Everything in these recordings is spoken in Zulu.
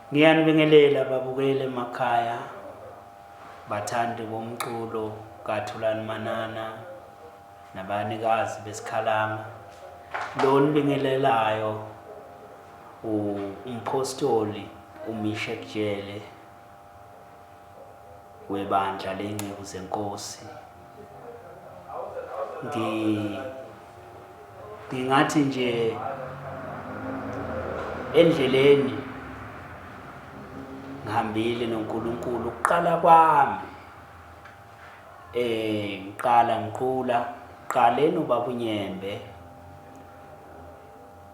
Ngiyanibingelela babukeli emakhaya bathandi bomculo kaThulani Manana nabanikazi besikhalama lo nibingelelayo umphostoli uMisha Kujele webandla ley'nceku zenkosi. Ngingathi nje endleleni ngihambile noNkulunkulu ukuqala kwami eh ngiqala ngiqula qale nobabunyembe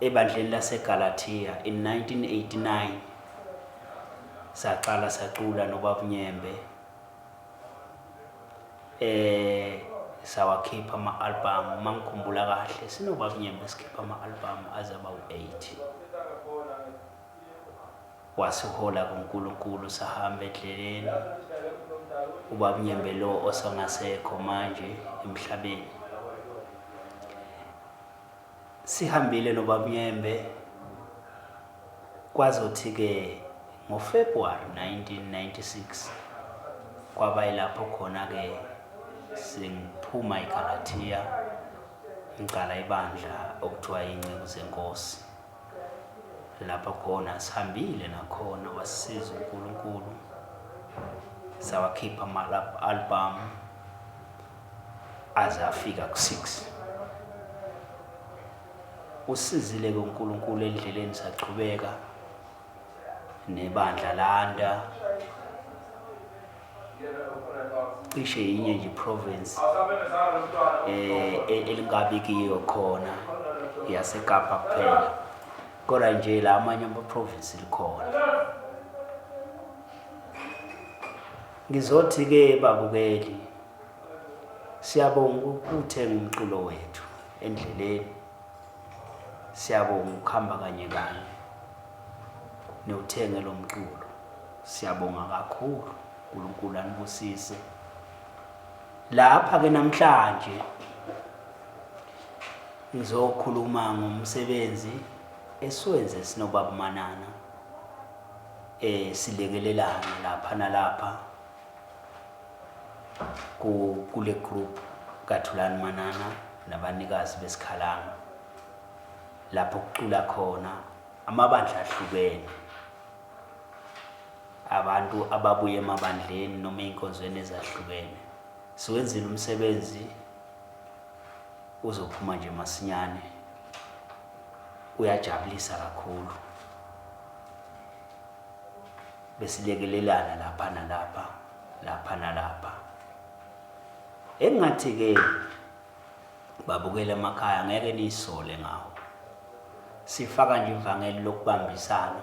ebandleni laseGalatia in 1989 saqala sacula nobab Nyembe eh sawakhipha ama album mangikhumbula kahle sinobab Nyembe sikhipha ama album azaba u8 wasihola kuNkulunkulu sahamba edleleni ubab Nyembe lo osangasekho manje emhlabeni Sihambile noBab'Nyembe kwazothi-ke ngoFebruary 1996 kwaba yilapho khona-ke sengiphuma eGalathiya ngiqala ibandla okuthiwa Inceku Zenkosi. Lapho khona sihambile nakhona wasisiza uNkulunkulu sawakhipha ama-albhamu aze afika ku 6 usizile ke uNkulunkulu endleleni saqhubeka nebandla landa cishe yinye nje province eh e-, elingabi kiyo khona yaseKapa kuphela kodwa nje la amanye ama province likhona ngizothi ke babukeli Siyabonga ukuthenga umculo wethu endleleni. Siyabonga ukuhamba kanye kanye newuthenge lo mculo. Siyabonga kakhulu uNkulunkulu anibusise. Lapha ke namhlanje ngizokhuluma ngomsebenzi esiwenze sinobaba Manana eh silekelelana lapha nalapha kule group kaThulani Manana nabanikazi besikhalanga lapho kucula khona amabandla ahlukene abantu ababuye emabandleni noma ey'nkonzweni ezahlukene siwenzile umsebenzi uzophuma nje masinyane uyajabulisa kakhulu besilekelelana lapha nalapha lapha nalapha. Engathi-ke babukele emakhaya ngeke niyisole ngawo. Sifaka nje ivangeli lokubambisana.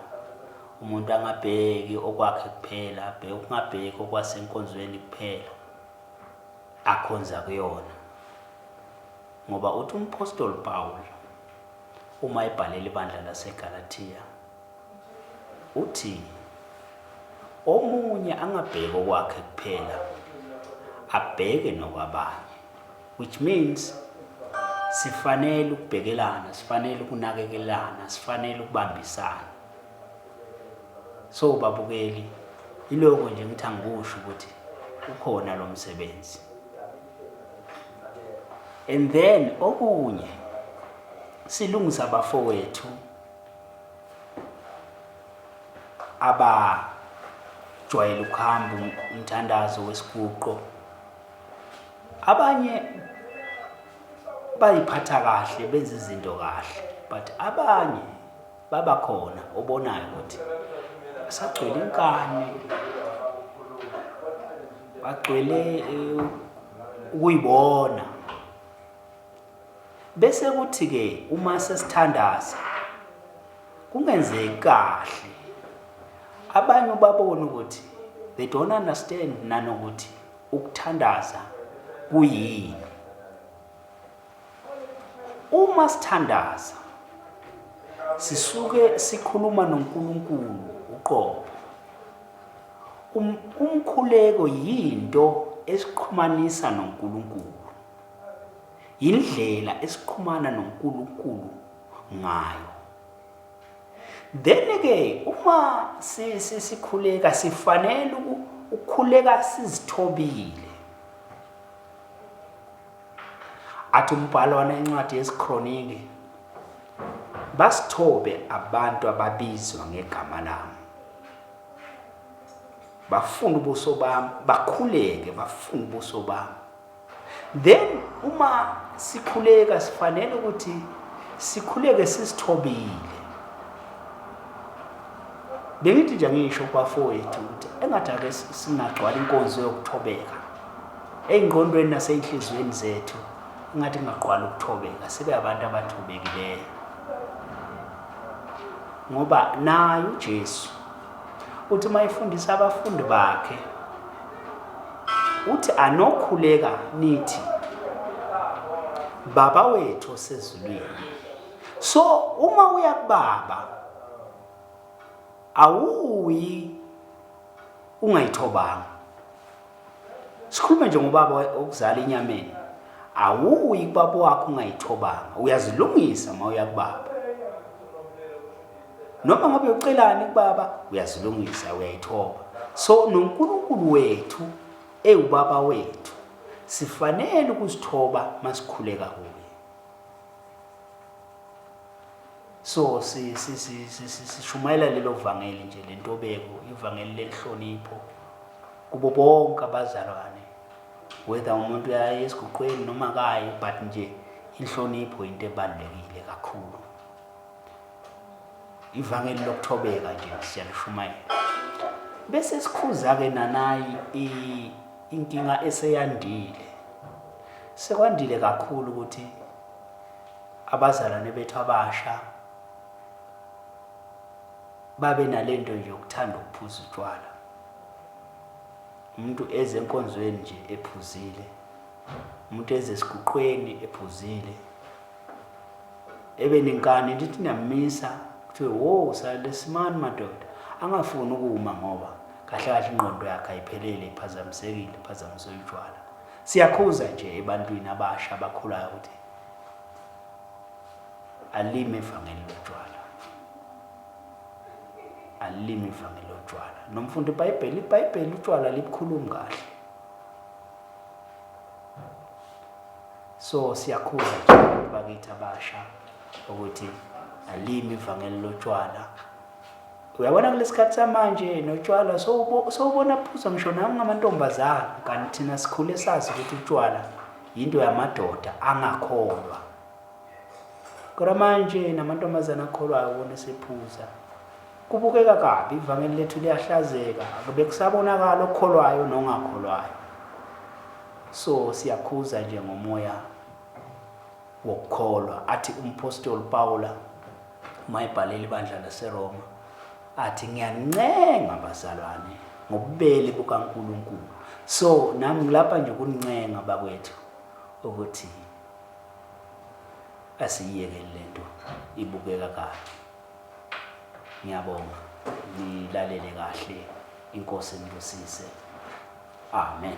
Umuntu angabheki okwakhe kuphela, abheke ukungabheki okwasenkonzweni kuphela akhonza kuyona. Ngoba uthi umphostoli Pawulu uma ebhalela ibandla laseGalathiya Uthi omunye angabheki okwakhe kuphela abheke nokwabanye which means sifanele ukubhekelana, sifanele ukunakekelana, sifanele ukubambisana. So babukeli iloko nje ngithi angikusho ukuthi ukhona lo msebenzi. And then okunye silungisa abafowethu abajwayele ukuhamba umthandazo wesiguqo abanye bayiphatha kahle benza izinto kahle but abanye babakhona obonayo ukuthi asagcwele inkani bagcwele eh, ukuyibona Bese kuthi ke uma sesithandaza kungenzeki kahle abanye ubabona ukuthi they don't understand nanokuthi ukuthandaza kuyini uma sithandaza sisuke sikhuluma noNkulunkulu uqobo um, umkhuleko yinto esiqhumanisa noNkulunkulu Yindlela esiqhumana noNkulunkulu ngayo. Then ke uma sikhuleka sifanele ukukhuleka sizithobile. athi umbhalo wanencwadi yezikhroniki basithobe abantu ababizwa ngegama lami bafuna ubuso bami bakhuleke bafuna ubuso bami then uma sikhuleka sifanele ukuthi sikhuleke sisithobile bengithi nje ngisho kwafowethu ukuthi engathi ake singagcwala inkonzo yokuthobeka ey'ngqondweni nasey'nhliziyweni zethu ingathi kungaqwala ukuthobeka sibe abantu abathobekileyo ngoba naye uJesu Uthi uma efundisa abafundi bakhe uthi anokhuleka nithi baba wethu osezulwini so uma uya kubaba awuyi ungayithobanga Sikhulume nje ngobaba okuzala inyameni. Awuyi kubaba wakho ungayithobanga. Uyazilungisa uma uya kubaba. Noma ngabe ucelani kubaba uyazilungisa uyayithoba. So noNkulunkulu wethu ewubaba wethu sifanele ukuzithoba masikhuleka kuye. So sishumayela lelo vangeli nje lentobeko, ivangeli lenhlonipho kubo bonke abazalwane. Whether umuntu uyaye esiguqweni noma kayi but nje inhlonipho into ebalulekile kakhulu. Ivangeli lokuthobeka nje siyalushumayela. Bese sikhuza ke nanayi inkinga eseyandile. Sekwandile kakhulu ukuthi Abazalwane bethu abasha babe nale nto nje yokuthanda ukuphuza utshwala. Umuntu eze enkonzweni nje ephuzile, umuntu eze esiguqweni ephuzile, ebe nenkani lithi niyamisa kuthiwe wo salesimani madoda angafuni ukuma ngoba kahle kahle ingqondo yakhe ayiphelele iphazamisekile iphazamiswe utshwala siyakhuza nje ebantwini abasha abakhulayo ukuthi alime ivangeli lotshwala alime ivangeli lotshwala nomfundi ibhayibheli ibhayibheli utshwala libukhulumi kahle so siyakhuza nje bakithi abasha ukuthi alime ivangeli lotshwala uyabona kulesikhathi samanje notshwala sowubona phuza ngisho nami ngamantombazana kanti thina sikhule sazi ukuthi utshwala yinto yamadoda angakholwa kodwa manje namantombazane akholwayo wona esephuza kubukeka kabi ivangeli lethu liyahlazeka akube kusabonakala okholwayo nongakholwayo so siyakhuza nje ngomoya wokukholwa athi umpostoli pawula mayibhalele ibandla laseRoma athi ngiyancenga bazalwane ngobubele bukaNkulunkulu so nami ngilapha nje ukuncenga bakwethu ukuthi asiyiyekeni lento ibukeka kahle ngiyabonga nilalele kahle inkosi nibusise amen